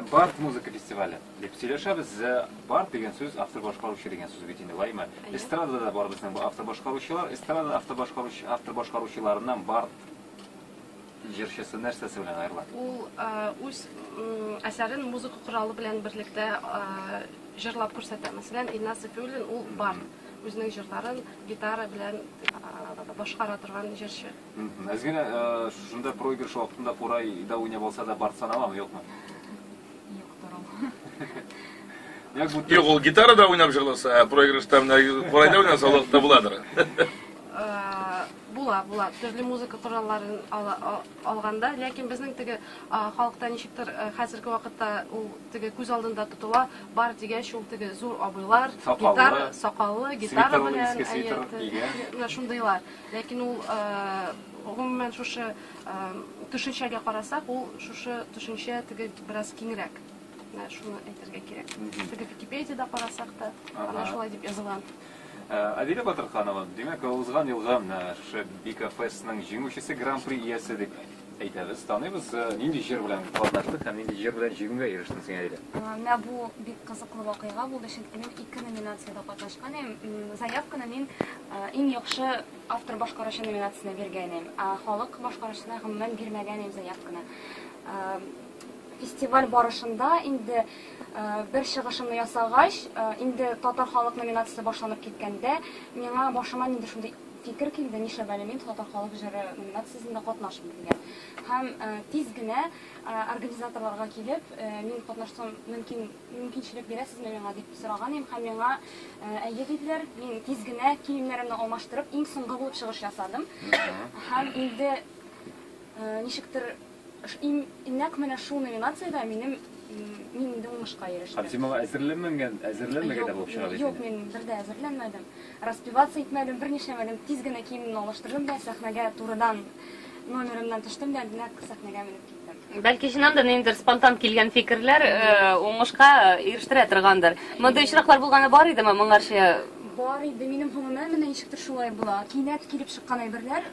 Бард музыка фестивале дип сөйләшәбез. Бард дигән сүз автор башкаручы дигән сүз бит инде, лаймы? Эстрада да бар безнең бу автор башкаручылар. Эстрада автор башкаручы автор башкаручыларыннан бард җырчысы нәрсәсе белән аерыла? Ул үз әсәрен музыка коралы белән берлектә җырлап күрсәтә. Мәсәлән, Илназ Сафиуллин ул бард. Үзенең җырларын гитара белән башкара торган җырчы. Әзгинә, шушында проигрыш вакытында курай да уйнап алса да барт саналамы, юкмы? Юктыр ул. Як бу Юк, ул гитарада уйнап җырласа, ә проигрышта менә курайда уйнаса лык та буладыр. Була, була. Төрле музыка коралларын алганда, ләкин безнең теге халыкта ничектер хәзерге вакытта ул теге күз алдында тотыла, бар дигәч ул теге зур абыйлар, гитара, сакаллы, гитара белән, әйе, шундыйлар. Ләкин ул, гомумән, шушы төшенчәгә карасак, ул шушы төшенчә теге бераз киңрәк. Менә шуны әйтергә кирәк. Теге Википедиядә карасак та, ана шулай дип язылган. Адилә Батырханова, димәк, узган елгы шушы Бикафестның җиңүчесе, гран-при иясе дип Әйдәгез, таныйбыз, э, нинди җыр белән катнаштык һәм нинди җыр белән җиңүгә ирештең син әле? Менә бу бик кызыклы вакыйга булды, чөнки мин ике номинациядә катнашкан идем. М, Заявканы мин э, иң яхшы автор башкаручы номинациясенә биргән идем, ә халык башкаручысына гомумән бирмәгән идем заявканы. Э, Фестиваль барышында инде э, бер чыгышымны ясагач, э, инде татар халык номинациясе башланып киткәндә, миңа башыма нинди шундый Фикер килде, нишләп әле мин Татар халык җыры номинациясендә катнашмыйм дигән. Һәм тиз генә организаторларга килеп, мин катнашсам мөмкин, мөмкинчелек бирәсезме миңа дип сораган идем һәм миңа әйе диделәр. Мин тиз генә киемнәремне алмаштырып, иң соңгы булып чыгыш ясадым. Һәм инде ничектер Нәкъ менә шул номинациядә минем мин инде уңышка ирештем. Һәм син моңа әзерләнмәгән, әзерләнмәгән дә булып чыга бит. Юк, мин бер дә әзерләнмәдем. Распеваться итмәдем, бер нишләмәдем. Тиз генә киемемне алыштырдым да, сәхнәгә турыдан номерымнан төштем дә, нәкъ сәхнәгә менеп киттем. Бәлки чыннан да ниндидер спонтан килгән фикерләр уңышка ирештерә торгандыр. Мондый очраклар булганы бар идеме моңарчы? Бар иде. Минем гомумән менә ничектер шулай була. Кинәт килеп чыккан әйберләр,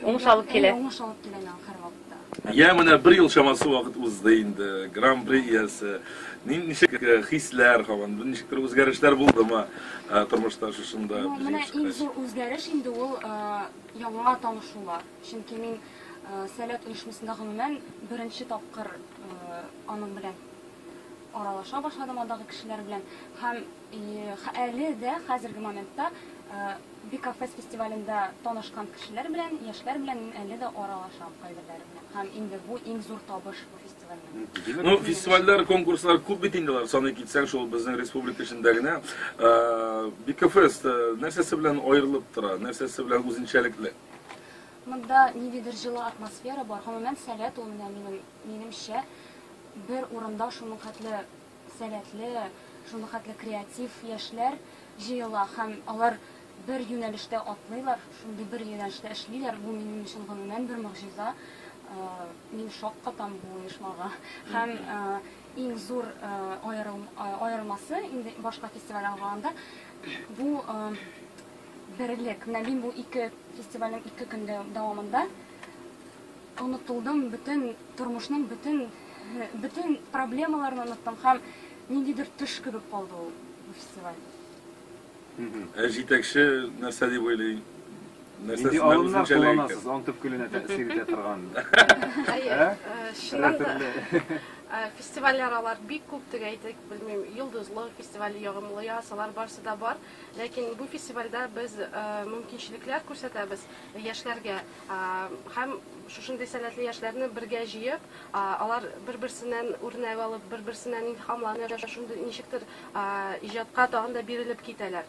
Уңыш алып килә. Әйе, уңыш алып килә миңа һәр вакытта. Йә, менә бер ел чамасы вакыт узды инде, Гран-при иясе. Нин, ничек хисләр һаман? Ничектер үзгәрешләр булдымы тормышта шушында җиңеп чыккач? Ну, менә иң зур үзгәреш инде ул яңа танышулар. Чөнки мин Сәләт оешмасында гомумән беренче тапкыр аның белән аралаша башладым, андагы кешеләр белән. Һәм Әле дә хәзерге моментта Бикафест фестивалендә танышкан кешеләр белән, яшьләр белән мин әле дә аралашам кайберләре белән. Һәм инде бу иң зур табыш бу фестивальнең. Ну, фестивальләр, конкурслар күп бит инде алар, саный китсәң, шул безнең республика эчендә генә. Бикафест нәрсәсе белән аерылып тора, нәрсәсе белән үзенчәлекле? Монда ниндидер җылы атмосфера бар. Гомумән, Сәләт ул, менә минем, минемчә, бер урында шуның хәтле Сәләтле, шулхәтле креатив яшьләр җыела һәм алар бер юнәлештә атлыйлар, шундый бер юнәлештә эшлиләр, бу минем өчен гомумән бер могҗиза. Мин шаккатам бу оешмага. Һәм иң зур аерылмасы, инде башка фестивальдән караганда, бу берлек. Менә мин бу ике фестивальнең ике көндә дәвамында, Онытылдым, бөтен тормышның бөтен бөтен проблемаларын оныттым һәм ниндидер төш кебек калды ул бу фестиваль. Ә җитәкче нәрсә дип уйлый? Нинди алымнар кулланасыз аң төпкеленә тәэсир итә торган? Хәер, чыннан да фестивальләр алар бик күп теге әйтик, белмим, Йолдызлы фестивале, Ягымлы яз, алар барысы да бар. Ләкин бу фестивальдә без мөмкинчелекләр күрсәтәбез яшьләргә. Һәм шушындый сәләтле яшьләрне бергә җыеп, алар бер-берсеннән үрнәк алып, бер-берсеннән илһамланып, шундый ничектер иҗатка тагын да бирелеп китәләр.